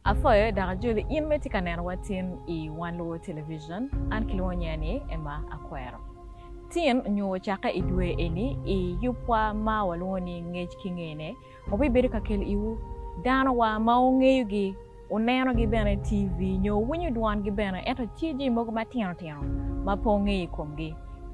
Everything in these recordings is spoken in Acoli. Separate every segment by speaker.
Speaker 1: Apwoyo dok ajoli in ma itye ka neno wa tin i Wan Luwo Television, an kilwongo nyinga ni Emma Akwero. Tin nyo ocakke i dwe eni i yubwa ma walwongo ni Ngec ki Ngene obibedo ka kelo iwu dano wa ma wungeyo gi, wuneno gi bene TV nyo wuwinyo dwon gi bene ento ci jami mogo matino tino ma pe wungeyo i kom gi.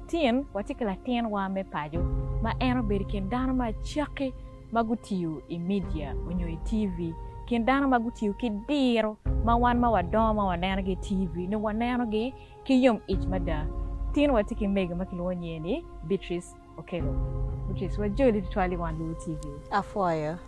Speaker 1: Tin watye ki latin wa me paco ma en obedo i kin dano ma cakki, ma gutiyo i media onyo i TV, kin dano ma gutiyo ki diro ma wan ma wadongo ma wanenogi i TV nongo wanenogi ki yom ic mada. Tin watye ki mego ma kilwongo nyinge ni Beatrice Okello. Beatrice, wajoli tutwal i wang luwo TV. Apwoyo.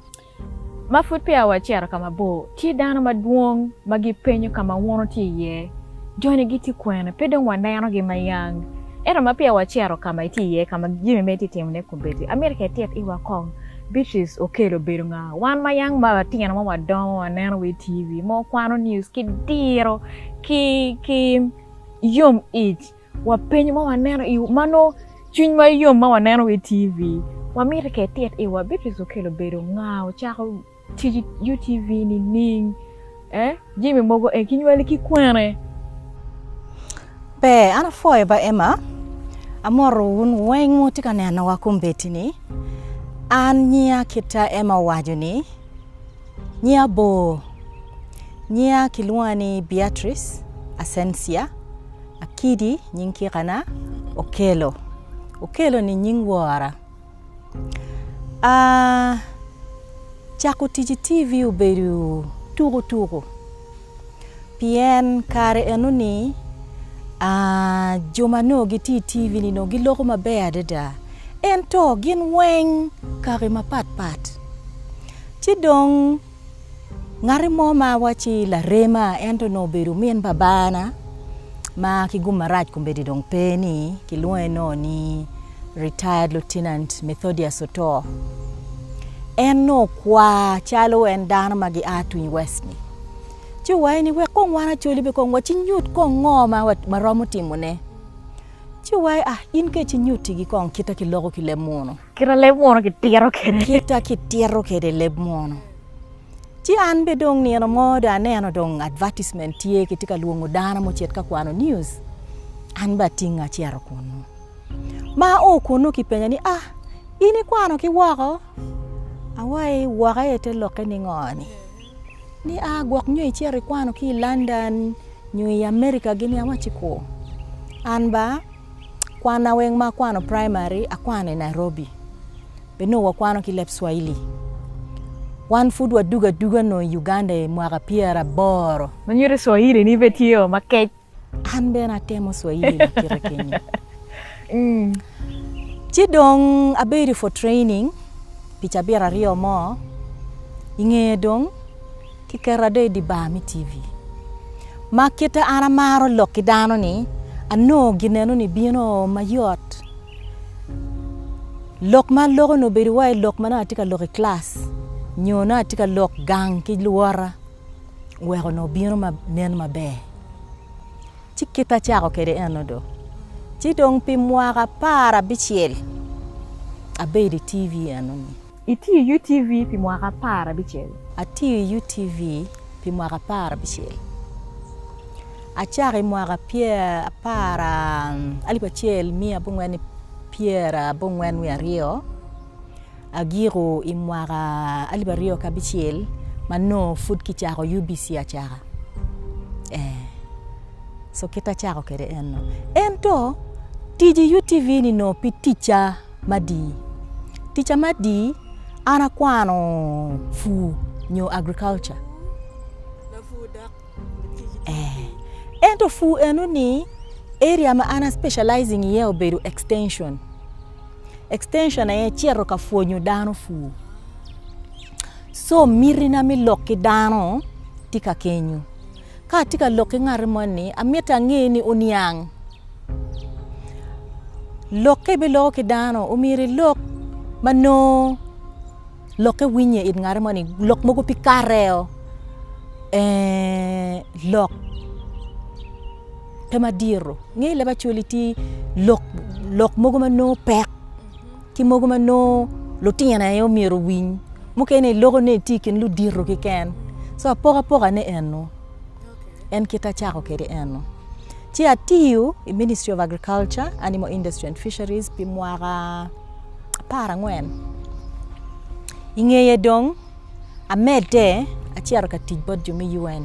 Speaker 2: Ma
Speaker 1: pud peya wacito ka mabor, tye dano madwong ma gipenyo ka ma wun wutye iye. Joni gitye kwene? Pe dong wanenogi ma yang. Ento ma peya wacito ka ma itye iye, ka ma jami ma itye ka timone komedi, amito ka itit iwa kong. Beatrice Okello obedo nga? Wan ma yang ma watino ma wadongo waneno wa i TV ma wakwano niuc ki diro ki yom ic, wapenyo ma waneno i ma nongo cwiny ma yom ma waneno wa i TV. Wamito ka itit iwa, Beatrice Okello obedo nga? Ocako. Tic UTV nining? eh? Jami mogo eh kinywali ki kwene? Pe,
Speaker 2: an apwoyo ba Emma. Amoto wun weng ma wutye ka nenowa kombeddi ni. An nyinga kita Emma owaco ni. Nyinga bor. Nyinga kilwonga ni Beatrice Ascencia Akidi nying kikana, Okello. Okello ni nying wora. Cako tic i TV obedo tuko tuko pien kare enoni jo ma nongo gitye i TV ni nongo giloko maber adada ento gin weng kaki mapatpat ci dong Ngati mo ma wacci larema ento nongo obedo omin babana ma ki gum marac kombeddi dong pe ni kilwonge nongo ni Retired Lieutenant Methodius Oto. En nongo okwa calo en dano ma gia Twin West ni ci owaye ni wek kong wan acoli be kong wacinyut kong ngo ma waromo timone. Ci wa a in kec inyuttigi kong kita kiloko ki leb munu. Kita leb munu
Speaker 1: kitito kwede. Kita kitito
Speaker 2: kwede leb munu. Ci an be dong nino mo do aneno dong advertisement tye kitye ka lwongo dano mo cet ka kwano news. An be atinge acito kunu. Ma a o kunu kipenya ni a in ikwano ki woko? Awai woko aye te lokke ningo ni? Ni a gwok nyo icit ikwano ki i London nyo i America gini awacci ku. An ba kwanna weng ma akwano primary akwano i Nairobi. Bed nongo wakwano ki leb Swahili. Wan pud wadugo aduga nongo i Uganda i mwaka pyeraboro. Manyuti Swahili
Speaker 1: ni bene tye o makec. An bene
Speaker 2: atemo Swahili ma kite kenyo. Ci dong abedo for training pi cabit aryo mo, i ngeye dong kiketa do i dye bar me TV. Ma kite an amaro lok ki dano ni, anongo gineno ni bino mayot. Lok ma aloko ni obedo wai lok ma nongo atye ka lok i class nyo nongo atye ka lok gang ki luwota. wek onongo bino ma nen maber. Ci kit acako kwede eno do, ci dong pi mwaka apar abicel abedo i TV eno-ni. Itiyo i UTV
Speaker 1: pi mwaka apar abicel? Atiyo i UTV
Speaker 2: pi mwaka apar abicel. Acako i mwaka apar alip acel miya abongwen pyera abongwen wiye aryo. agiko i mwaka alip aryo ki abicel ma nongo pud kicako UBC acaka ee so kit ma acako kwede eno ento tic i UTV ni nongo pe ticca madii ticca madii an akwano pur nyo agriculture ee ento pur enoni area ma an a specialising iye obedo extension. Extension aye cito ka pwonyo dano pur. Co miti na me lok ki dano tye ka kenyo. Ka atye ka lok ki ngati mo ni amiti ange ni oniang. Lok ka ibiloko ki dano omyero ilok ma nongo lokke winye it ngati mo ni lok mogo pe kare oo eeh lok. pe madito ngeyo leb acwali tye lok mogo ma nongo pek ki mogo ma nongo lutino aye myero owiny mukene iloko ni itye i kin ludito keken so apokapoka ne eno en kit acako kwede eno ci atiyo i ministry of agriculture animal industry and fisheries pi mwaka apar angwen ingeye dong amede acito ka tic bot jo me UN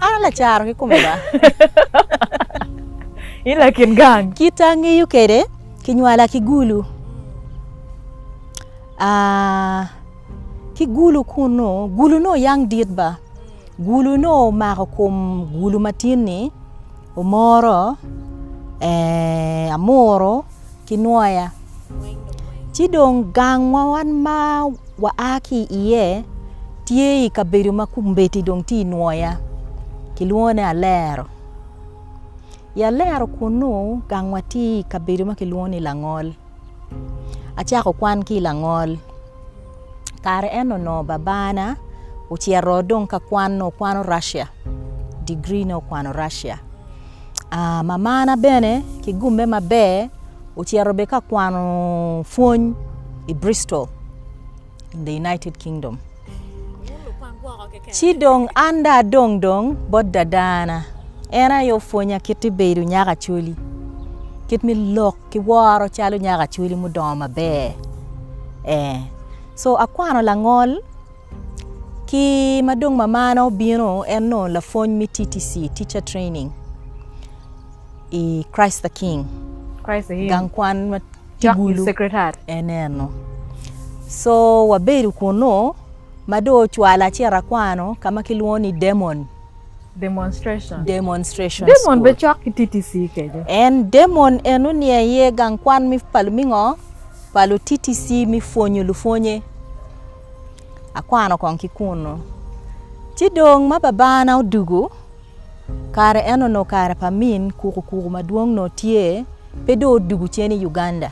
Speaker 2: An a lacaro ki kome ba.
Speaker 1: In lakin gang. Kit angeyo kede
Speaker 2: kinywala ki gulu. Ah, ki gulu kunu, gulu no yang dit ba. Gulu no omako kom gulu matin ni. Omoro eeh amuru ki nwoya ci dong gang ma wan ma waa ki iye tye i kabedo ma kombeddi dong tye i nwoya kilwongo ni alero i alero kunu gang wa tye i kabedo ma kilwongo ni langol acako kwan ki i langol. kare eno onongo babana ocito dong ka kwan nongo okwano Russia degree ne okwano Russia mamana bene ki gume maber ocito bene ka kwano pwony i Bristol in the United Kingdom ci dong an dong adong dong bot dadana en aye opwonya kit me bedo nyako Acholi kit me lok. kiworo calo nyako acwali mudongo maber ee co akwano langol ki ma dong mamana obino en onongo lapwony me TTC, teacher training, i Christ the King
Speaker 1: gang kwan ma
Speaker 2: Kibulu en
Speaker 1: eno
Speaker 2: co wabedo kunu ma dong ocwala ci ito akwano ka ma kilwongo ni Demon. Demonstrations. Demonstrations Demon School. be
Speaker 1: cok ki TTC kece. En demon
Speaker 2: eno ni aye gang kwan mi pa lumingo pa lu TTC mi pwonyo lupwonye. Akwano kong ki kunu. Ci dong ma babana odugu, kare eno no kare pa min kuku kuku madwong no tye, pe do odugu cen i Uganda.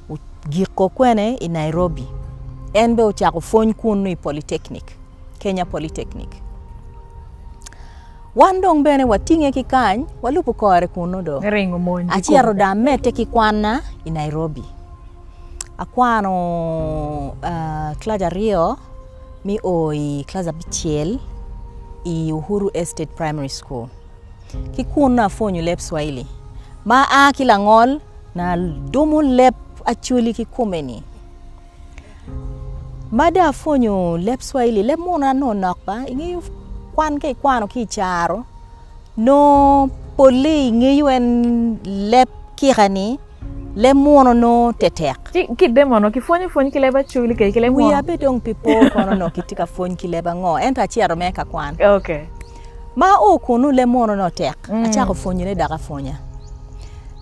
Speaker 2: Ogiko kwene i Nairobi. En be ocako pwony kunu i Polytechnic. Kenya Polytechnic. Wan dong bene watinge ki kany, walubo kore kunnu do. Me ringo mony ki Acito kom.
Speaker 1: dong amedde
Speaker 2: ki kwanna i Nairobi. Akwano ah, kilac aryo mi o i kilac abicel i Uhuru Estate Primary School. Ki kunnu apwonyo leb Cwahili ma a ki langol na dumo leb Acholi kikome-ni. Mada apwonyo leb cwaili leb munu na nongo nok ba ingeyo kwan ka ikwano ki icaro nongo polle ingeyo en leb kika ni leb munu nongo tetek. Ci ki i demono kipwonyo
Speaker 1: pwony ki leb acwili kede ki leb munu. Wiya bed dong pi po
Speaker 2: kono nongo kitye ka pwony ki leb ango ento acito mere ka kwan. Okay.
Speaker 1: Ma ao
Speaker 2: kunu leb munu nongo tek acako pwonyone dok apwonya.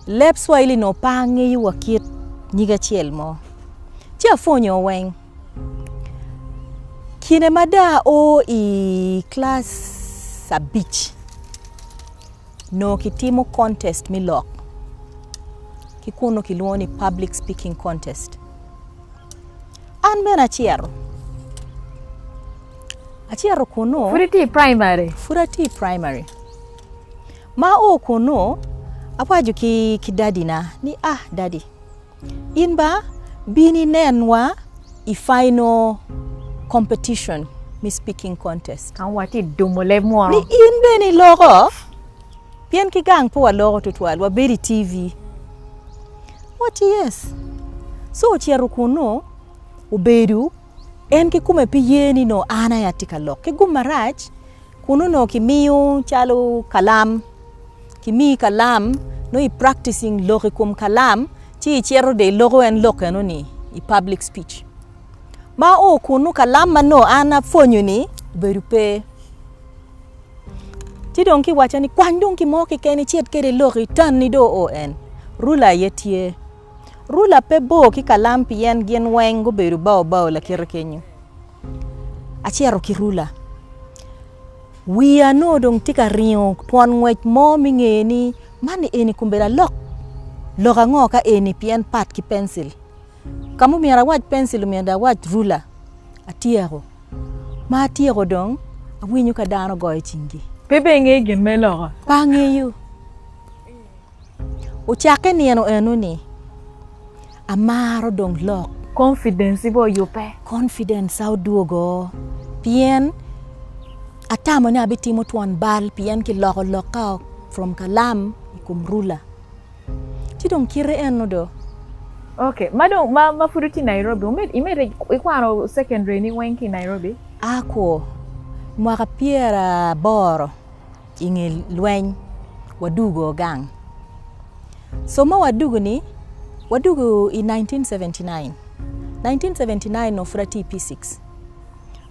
Speaker 2: Leb cwaili nongo pe angeyo wa kit nyig acel mo. ci apwonyo weng. Kine ma dong ao i kilac abic onongo kitimo kontest me lok ki kun onongo kilwongo ni public speaking kontest an bene acito acito kunu pud iti i praimari pud ati i praimari ma ao kunu awaco ki dadina ni a dadi In ba bin inenwa i final competition me speaking contest. Ka watye i dumo
Speaker 1: leb munu. Ni in bene
Speaker 2: iloko, pien ki gang pe waloko tutwal, wabedo i TV. Watye yes. So ocito kunu, obedo en ki kume pe ye ni nongo an aye atye ka lok. Ki gum marac, Kun onongo kimiyo calo kalam, kimiyi kalam, nongo i practicing lok i kom kalam, ci icito dong iloko en lok enoni i public speech. Ma o kunu kalam ma nongo an apwonyo-ni obedo pe. Ci dong kiwacca ni kwany dong gin mo keken icit kwede ilok itanni dong oo en. Rula aye tye. Rula pe bor ki kalam pien gin weng gubedo bao bao lakite kenyo. Acito ki rula, wiya nongo dong tye ka ringo twon ngwec mo me nge ni man eni kong obedo alok lok ango ka eni pien pat ki pencil. Ka ma omyero awac pencil omyero dong awac rula. Atyeko, ma atyeko dong awinyo ka dano goyo cinggi. Pe be ingeyo gin me
Speaker 1: loko? Pe angeyo.
Speaker 2: Ocakke nino eno-ni, amaro dong lok. Konfidenci be
Speaker 1: oyubbe. Konfidenca
Speaker 2: odwogo pien atamo ni abitimo twon bal pien kiloko lokka from kalam i kom rula. Ci dong kite eno do. Ok, ma
Speaker 1: dong ma ma pud itye Nairobi wumed imedde ikwano secondary-ni weng ki i Nairobi? Akwo,
Speaker 2: mwaka pyeraboro. I nge lweny wadugo gang. Somo wadugo ni wadugo i 1979. 1979 onongo pud atye i P6.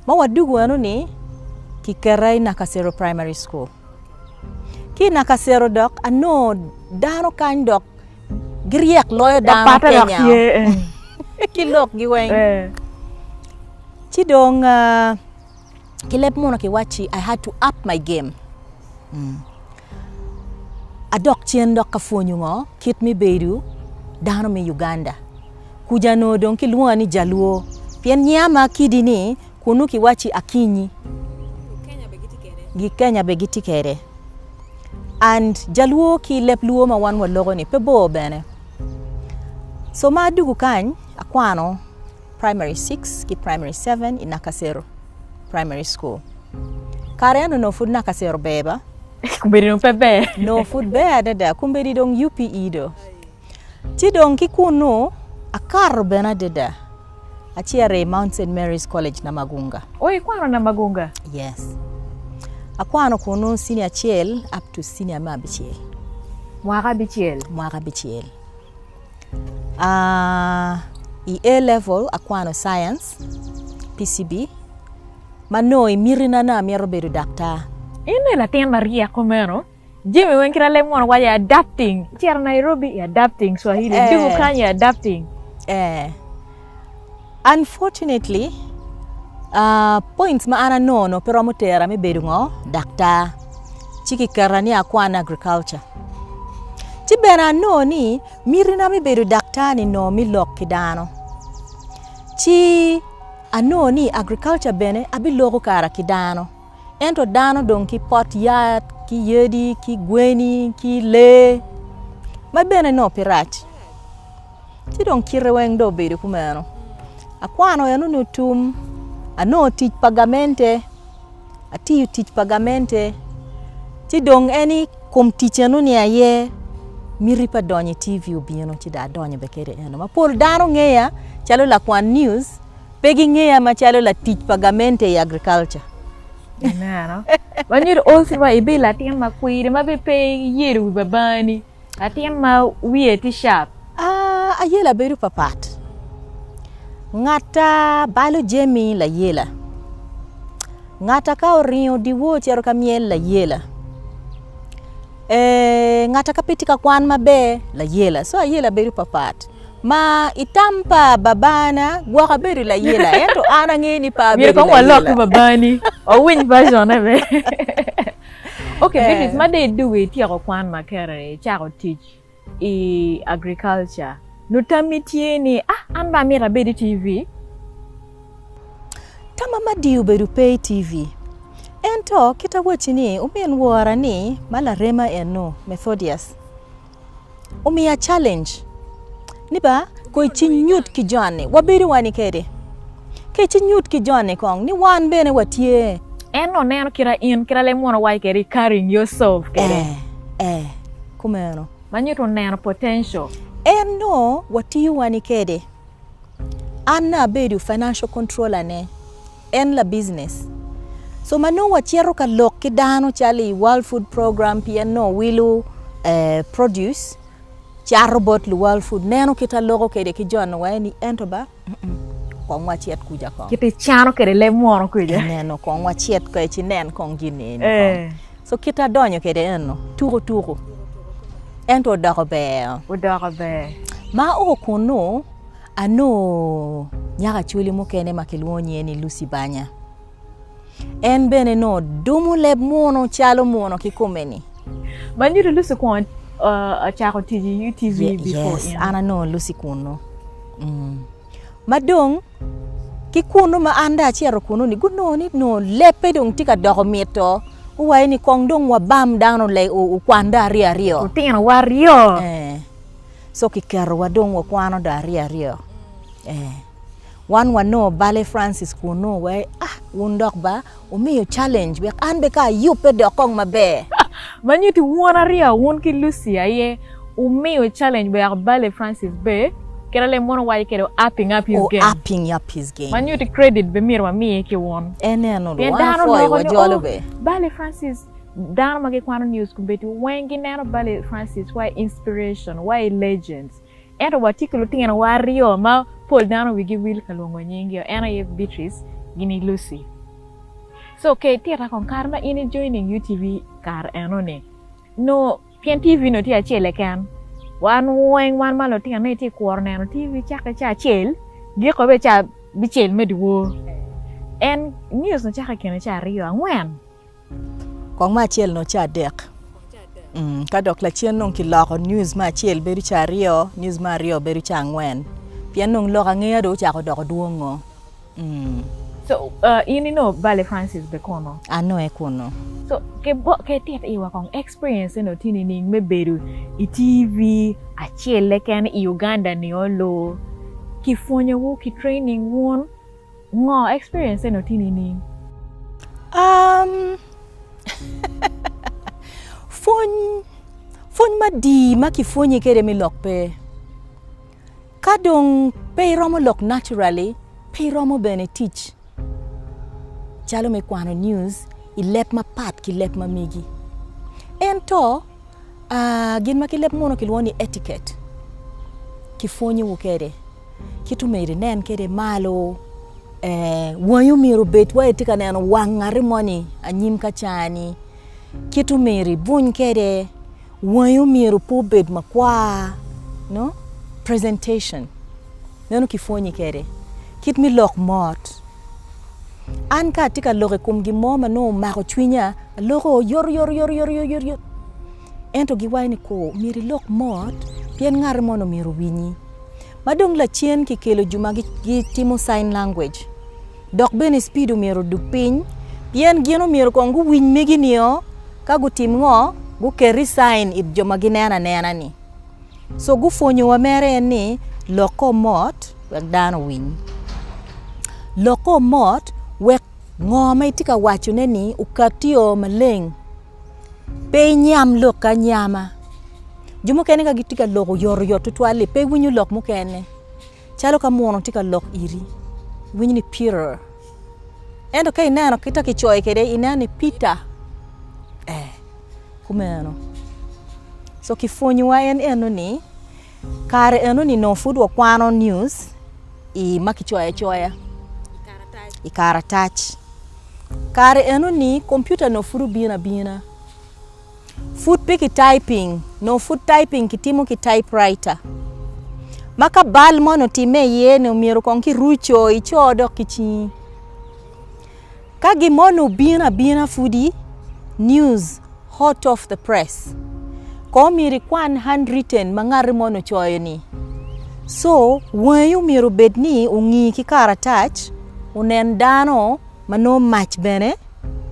Speaker 2: Ma wadugo eno ni kiketa i Nakasero Primary School. Ki i Nakasero dok anongo dano kany dok giryek loyo dano Kenya ki lokgi weng. Ci dong ki leb muno ki wacci I had to up my game adok cen dok ka pwonyo ngo kit me bedo dano me Uganda kuja onongo dong ki lwonga ni jaluo pien nyinga ma kidi ni kunu ki wacci Akinyi Kenya bene gitye kede and jaluo ki leb luo ma wan wa loko ni pe bor bene so ma adugu kany akwano Primary six ki Primary seven i Nakasero Primary School. Kare eno onongo pud Nakasero ber ba? Kombeddi dong pe
Speaker 1: ber. Onongo pud ber
Speaker 2: adada. Kombeddi dong UPE do. Ci dong ki kunnu akato bene adada. Acito i Mount St. Mary's College Namagunga. O ikwano Namagunga?
Speaker 1: Yes.
Speaker 2: Akwano kunnu senior acel up to senior me abicel. Mwaka
Speaker 1: abicel? Mwaka abicel.
Speaker 2: I A level akwano science, PCB, ma nongo i mitina ni amito bedo daktar. In ni latin
Speaker 1: maryek kumeno jami weng kit alem mono waco adapting, icito Nairobi i adapting swahili, dugu kany i adapting.
Speaker 2: Unfortunately, points ma an anongo pe romo tera me bedo ngo, daktar. Ci ki keta ni akwan agriculture. Ci bene anongo ni miti na me bedo daktar ni nongo me lok ki dano. Ci anongo ni agriculture bene abiloko kara ki dano. Ento dano dong ki pot yat, ki yadi, ki gweni, ki lee ma bene nongo pe rac. ci dong kite weng dong obedo kumeno akwano enoni otum anongo tic pa gamente atiyo tic pa gamente ci dong en ni kom tic enoni aye miti pa donyo i TV obino ci dong adonyo bene kede eno ma pol dano ngeya calo lakwan news pe gingeya macalo latic pa gamente i agriculture. Aneno.
Speaker 1: Wanyo ot wa ibedo latin makwiri ma bene pe iyedo wi babani. Latin ma wiye tye sharp. Ayela
Speaker 2: bedo papat. Ngat a balo jami layela. Ngat a ka oringo dyewor cito ka myel layela. Eeh, ngat a ka pe tye ka kwan maber layela. So ayela bedo papat. Ma i tam pa babana gwoka bedo layela ento an angeyo ni pe abedo layela. Myero kong walok ki babani
Speaker 1: wawiny version ne bene. Ok eh. Beatrice ma dong idugo ityeko kwan ma kere icako tic i agriculture nut tammi tye ni ah an dong amyero abed i TV?
Speaker 2: Tamma madi obedo pe i TV. Ento kit awacci ni omin wora ni ma larema eno, Methodius. omiya challenge ni ba ko i cing nyut ki joni wabedo wani kede ki cing nyut ki joni kong ni wan bene watye En oneno kira
Speaker 1: in kira lem mono wayo kede carrying yourself kede. Eh, eh,
Speaker 2: kumeno. Ma nyuto
Speaker 1: neno potential. En no
Speaker 2: watiyo wani kede. An na abedo financial controller ne. En labicness. So ma nongo wacito ka lok ki dano calo i World Food Program pien nongo wilo produce cato bot luworld food neno kit aloko kwede ki joni wa eni ento ba kong wacit kuca kong. Kit icano kwede leb
Speaker 1: munu kuca. Ineno kong wacit
Speaker 2: kong ci nen kong gin ni eni kong. Eh. So kit adonyo kwede eno tuku tuku ento odoko ber. Odoko ber. Ma o kunu Anongo nyako Acholi mukene ma kilwongo nyinge ni Lucy Banya. En bene nongo dumo leb muno calo muno ki kome-ni. Manyuto
Speaker 1: Lucy okwongo
Speaker 2: uh, cako
Speaker 1: tic i UTV Ye- before yes, in. an
Speaker 2: anongo
Speaker 1: Lucy kunu. Mm.
Speaker 2: Ma dong ki kunu ma an dong acito kunu-ni gunongo ni nongo lebbe dong tye ka doko mito. Guwaco ni kong dong wabam dano le- o- okwan dong aryo aryo. Lutinowa aryo.
Speaker 1: Eh.
Speaker 2: so kiketowa dong wakwano dong aryo aryo ee wan wanongo bale Francis kunu wa i ah wun dok ba wumiyo calenj wek an bene kong ayubbe dok kong maber. Ma nyuto
Speaker 1: wun aryo wun ki Lucy aye wumiyo calenj wek bale Francis be kit alem mono wawaco kwede o-upping up his game. O-upping up his game. Ma nyuto credit bene myero wamiye ki wun. Eneno dong, pien dano
Speaker 2: nongo kong ni oh bale Francis
Speaker 1: Dano ma gikwano news kombeddi weng gineno Bali Francis wa i inspiration, wa i legends. Ento watye ki lutinowa aryo ma pol dano wigi wil ka lwongo nyinggi, en aye Beatrice gini Lucy. So ka itita kong kare ma in i joining UTV kare enoni, no pien TV no tye acel keken, wan weng wan ma lutino ni tye kworo neno TV cake ca acel, giko be ca bicel me dwor. En news no cake kene ca aryo, angwen.
Speaker 2: Kong me acel nongo ca adek ka dok lacen nongo kiloko news me acel bedo ca aryo news me aryo bedo ca angwen pien nongo lok angeya dong ocako doko dwongo.
Speaker 1: So in ino Valley Francis be kunu? An nongo aye kunu.
Speaker 2: So
Speaker 1: ke tit iwa kong experience eno ti nining me bedo i TV acel le ken i Uganda nio loo ki pwonyo wu ki training wun? Ngo experience eno tini nining? Um
Speaker 2: pwony pwony madii ma ki pwonyi kede mi lok pe ka dong pe iromo lok naturally pe iromo bene tic calo me kwano news i leb mapat ki leb ma migi ento aa gin ma ki leb munu ki lwongo ni etiquette ki pwonyowu kede. Kit omeri nen kwede malo wangi omyero obed wai itye ka neno wang ngati moni anyim ka ca ni kit omeri ibuny kwede wangi omyero pe obed makwar nongo presentation meno ki pwonyi kwede kit me lok mot an ka atye ka lok i kom gin mo ma nongo omako cwinya aloko yotoyotoyotoyotoyoto ento giwaco ni kor myero ilok mot pien ngati moni myero owinyi. ma dong lacen kikelo jo ma gitimo sign language dok bene speed omyero odug piny pien gin omyero kong guwiny megi nio ka gutim ngo guketi sign it jo ma gineno anena ni so gupwonyo wa mere en ni lok kor mot wek dano owiny lok kor mot wek ngo ma itye ka waco ne ni okati o maleng. Pe inyam lok ki anyama jo mukene ka gitye ka lok oyotoyot tutwal li pe iwinyo lok mukene calo ka munu tye ka lok iri iwinyo ni pirr ento ka ineno kit ma kicoyo kwede ineno ni pitta ee kumeno so kipwonyowa en eno ni kare eno ni nongo pud wakwano news ma kicoyo acoya i karatac. Kare enoni kompiuta nongo pud obino abina. Pud pe kitayping, nongo pud tayping kitimo ki tayipraita ma ka bal mo nongo otimme iye nongo myero kong ki ruco ico dok ki cingi. Ka gin mo nongo obino abina pudi, news. Hot Off the Press, Kono omyero ikwan handwritten ma ngati moni ocoyo-ni. Co, wangi omyero obed ni ongi ki karatac, onen dano ma nongo mac bene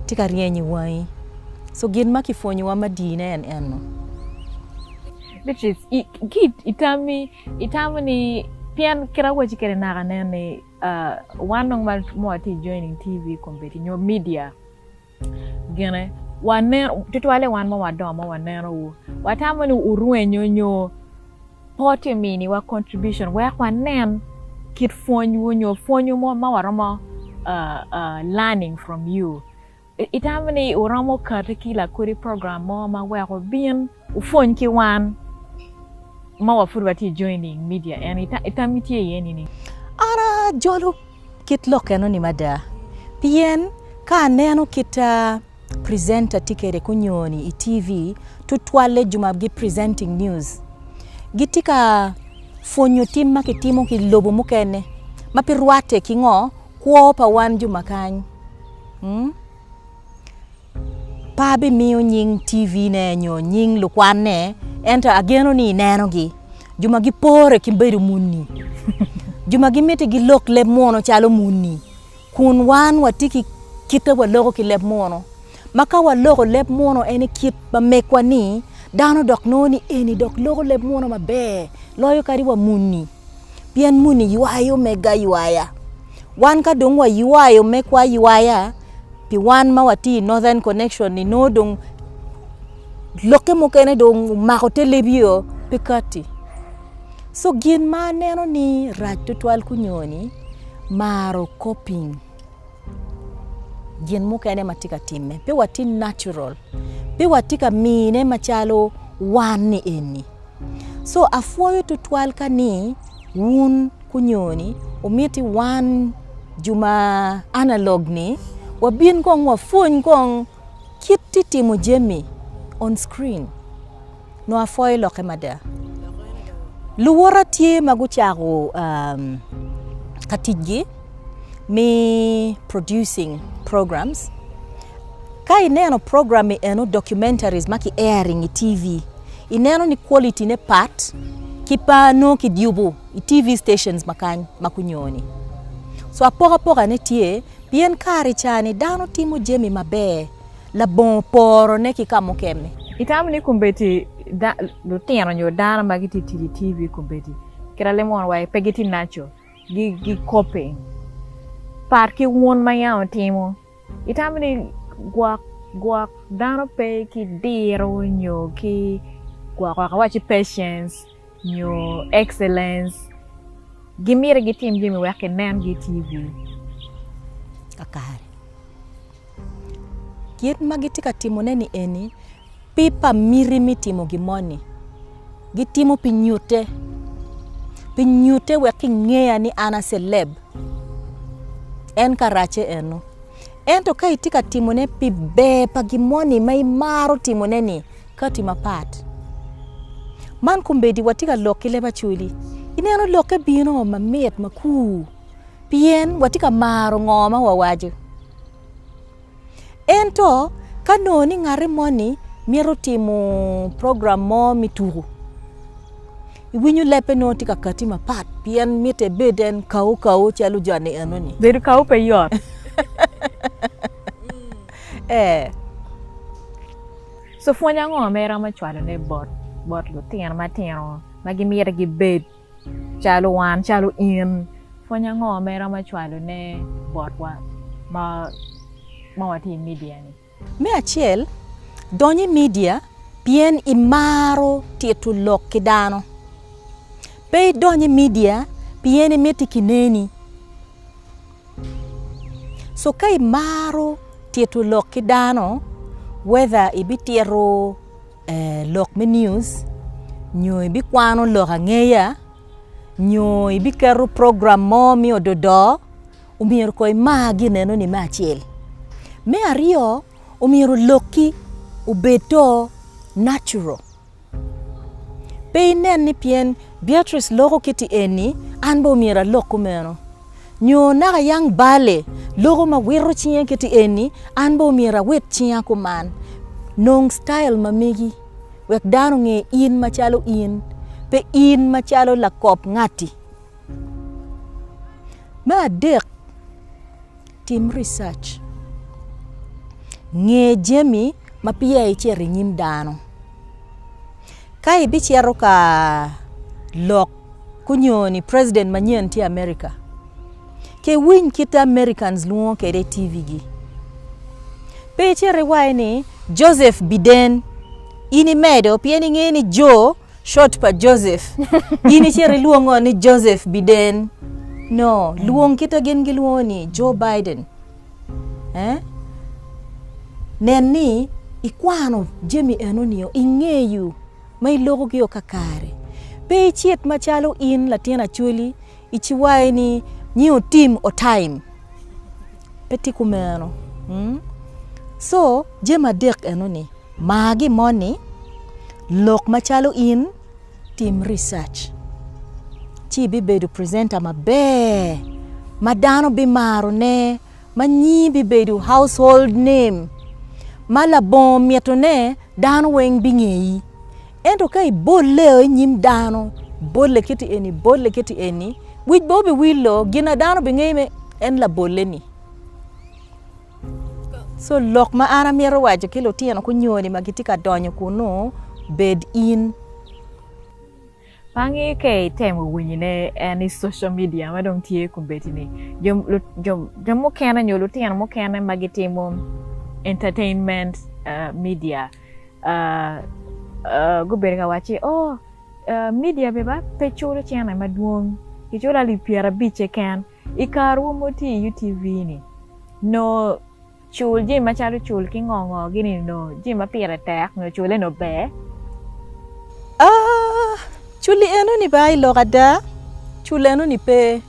Speaker 2: tye ka ryeny i wangi. Co, gin ma kipwonyowa madiine en eno.
Speaker 1: Beatrice, Ki i tammi, itamo ni, pien kit ma awacci kwede naka nen ni wan nongo ma watye i joining TV, kombeddi nyo media, Gine, wanen, tutwalle wan ma wadongo ma waneno wu, watamo ni wurwenyo nyo pot i miniwa contribution wek wanen kit pwony wu nyo pwony wu mo ma waromo uh, uh, learning from you. I- Itamo ni wuromo kati ki lakodi program mo ma weko bin Wupwony ki wan ma wa pud watye joining media en i tam itye iye ni ni. An ajolo
Speaker 2: kit lok eno ni mada pien ka aneno kit presenter tye kede kunyoni i TV tutwalle juma gi presenting news gi tye ka pwonyo tim ma ki timo ki lobo mukene ma pi rwate ki ngo kwo pa wan juma kany. Pe abimiyo nying TV-ne nyo nying lukwanne, ento ageno ni inenogi, jo ma gipore ki bedo muni, jo ma gimiti gilok leb muno calo muni. Kun wan watye ki kite waloko ki leb muno, ma ka waloko leb muno en i kit ma megwa-ni, dano dok nongo ni eni dok loko leb muno maber loyo kadi wa muni. pien moni ywayo mega aywaya. Wan ka dong waywayo megwa aywaya pi wan ma watye i Northern Connection ni nongo dong lokke mukene dong omako te lebio pe katti. Co gin ma aneno ni rac tutwal kunyoni maro coping gin mukene ma tye ka timme pe watye natural pe watye ka mine macalo wan ni eni. So apwoyo tutwal ka ni wun onyo ni omiti wan jo ma analog ni wabin kong wa pwony kong kit ti timo jami on screen nyo apwoyo lokke mada. Luwota tye ma gucako ka ticgi. me producing programs ka ineno program ni eno documentaries ma ki airing i TV ineno ni quality ne pat ki pa nongo ki yubu i TV stations ma kany ma kunyoni so apokapoka ne tye pien kare ca ni dano timo jami maber labongo poro ne ki ka mukene. Itamo ni kombeddi
Speaker 1: lutino nyo dano ma gitye ka tic i TV kombeddi kit ma lemo wa pe gitye natural? gikobbe pat ki wun ma yam wutimo. Itamo ni gwok gwok dano pe ki diro nyo ki gwok gwok awaci patience nyo excellence gimiti gitim jami wek kinen gitye wi
Speaker 2: kakare. Kit ma gitye ka timone-ni eni pe pa miti me timo gin moni, gitimo pi nyutte, pi nyutte wek kingeya ni an aceleb. En karacce eno. Ento ka itye ka timone pi ber pa gin moni ma imaro timone-ni, kati mapat. Man kombeddi watye ka lok ki leb Acholi, ineno lokke bino mamit, makur. pien watye ka maro ngo ma wawaco. Ento ka nongo ni ngati moni mito timo program mo me tuku iwinyo lebbe nongo tye ka kati mapat pien mitte ebed en kawu kawu calo joni enoni. Bedo kawu pe yot
Speaker 1: ee. So pwony ango ma iromo cwalone bot lutino matino ma gimyero gibed? Calo wan, calo in, pwony ango ma iromo cwalone botwa ma watye i media-ni? Me acel,
Speaker 2: dony i media pien imaro tito lok ki dano. Pe idony i media pien imito kineni. So ka imaro tito lok ki dano whether ibitito. lok me news nyo ibikwano lok angeya nyo ibiketo program mo me ododo omyero kong imar gineno ni me acel, me aryo omyero lokki obed do natural pe inen ni pien Beatrice loko kiti eni an bene omyero alok kumeno. Nyo naka yang balle loko ma wito cinge kiti eni, an bene omyero awit cinga kuman. Nong style ma megi wek dano onge in macalo in, pe in macalo lakop ngati. Me adek, tim research, nge jami ma peya icito i nyim dano. Ka ibicito ka lok. Gunyoyo ni president manyen tye America. Ci iwiny kite Americans lwongo kwede i TV gi. Pe icit iwaye ni Joseph Biden. In imedo pien ingeyo ni Jo short pa Joseph. In icit ilwongo ni Joseph Biden. No, lwong kite gin gilwongo ni Joe Biden. Eh? Nen ni ikwano jami eno nio, ingeyo. ma ilokogio kakare. Pe icit macalo in latin acholi iciwayo ni nyi otim otaim. Pe tye kumeno. Co jami adek enoni, mar gi moni, lok macalo in, tim research ci ibibedo presenter maber ma dano bimaro ne. ma nyingi bibedo household name, ma labongo mitone dano weng bingeyi. Ento ka ibolleo i nyim dano, ibolle kiti eni, ibolle kiti eni, wic bene biwillo, gin ma dano bingeyi me en labolle-ni. Co lok ma an amito waco ki lutino kunyoni ma gitye ka donyo kunu, bed in. Bangi
Speaker 1: ka itemo winyone en i social media ma dong tye kubedi ni jo, jo, jo mukene nyo lutino mukene ma gitimo entertainment uh, media uh, uh, gubedo ka wacci oh uh, media bene ba pe culo cene madwong giculo alip pyerabic keken i karowa ma watye i UTV ni nongo Cul jami macalo cul ki ngo ngo gini nyo jami ma pire tek nyo cule nyo ber. A,
Speaker 2: Culi enoni ba i lok ada? Cul enoni pe.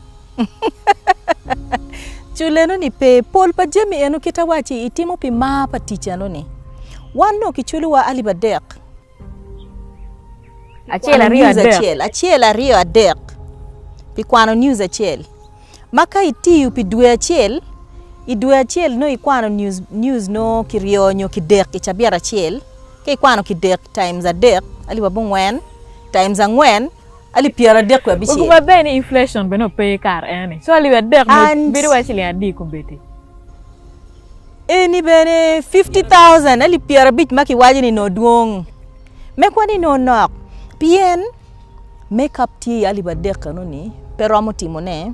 Speaker 2: Cul enoni pe. Pol pa jami eno kit awacci itimo pi mar pa tic enoni. Wan nyo kiculowa alip adek. Acel aryo adek. Acel aryo adek. Pi kwano news acel. Ma ka itiyo pi dwe acel, i dwe acel nongo ikwano news news nongo kiryo nyo kidek i cabiet acel. Ka ikwano kidek times adek alip abongwen times angwen alip pyeradek wiye abicel. Weko maber ni inflation
Speaker 1: bene ope kare eni. So alip adek ni bedo wai ciling adi i kombeddi.
Speaker 2: Eni bene 50,000 alip pyerabic ma kiwaco ni nongo dwong, me kwan ni nongo nok, pien me kap tye iye alip adek enoni pe romo timo ne,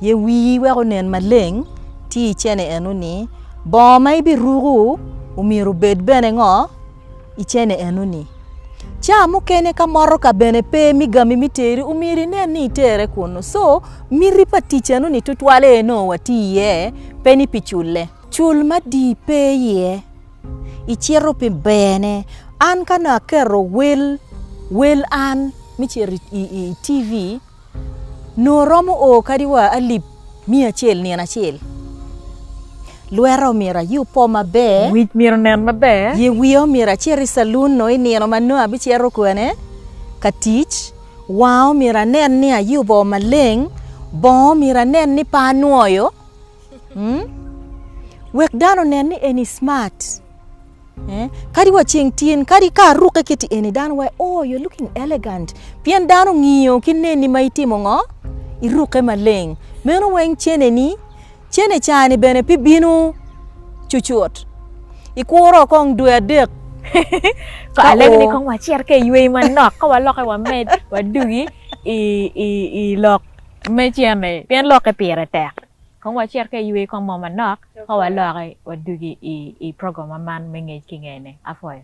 Speaker 2: ye wii wek onen maleng tye icene enoni, bongo ma ibiruku omyero obed bene ngo? i cene enoni. Caa mukene ka motoka bene pe mi gami mi teri omyero inen ni itere kunu. So miti pa tic enoni tutwal aye nongo wati iye pe ni pi cule. Cul madii pe iye, icito pi bene. An ka nongo aketo wel, wel an me cito i TV. Nongo romo o kadi wa alip miya acel nino acel. Lweta omyero aye opo maber. Wic myero nen maber.
Speaker 1: Ye wiya omyero acit
Speaker 2: i calun nongo i nino ma nongo abicito kwene ka tic. Wanga omyero anen ni ayubo maleng. Bongo myero anen ni pe anwoyo wek dano onen ni en i smart. Eh, kadi wa ceng tyen, kadi ka arukke kiti eni, dano wae, oh, you're looking elegant. Pien dano ngiyo ki neni ma itimo ngo? Irukke maleng. Meno weng cene ni, cene ca ni bene pi binu cucut. Ikuro kong dwe adek.
Speaker 1: Ko Ka alego ni oo. kong wacit ka iyweyi manok, ka waloke wamed, wadugi i, i, i lok me cene, pien lokke pire tek. Kong wacit ka iyweyi kong mo manok, Ka walokke wadugi i program man me Ngec ki Ngene, apwoyo.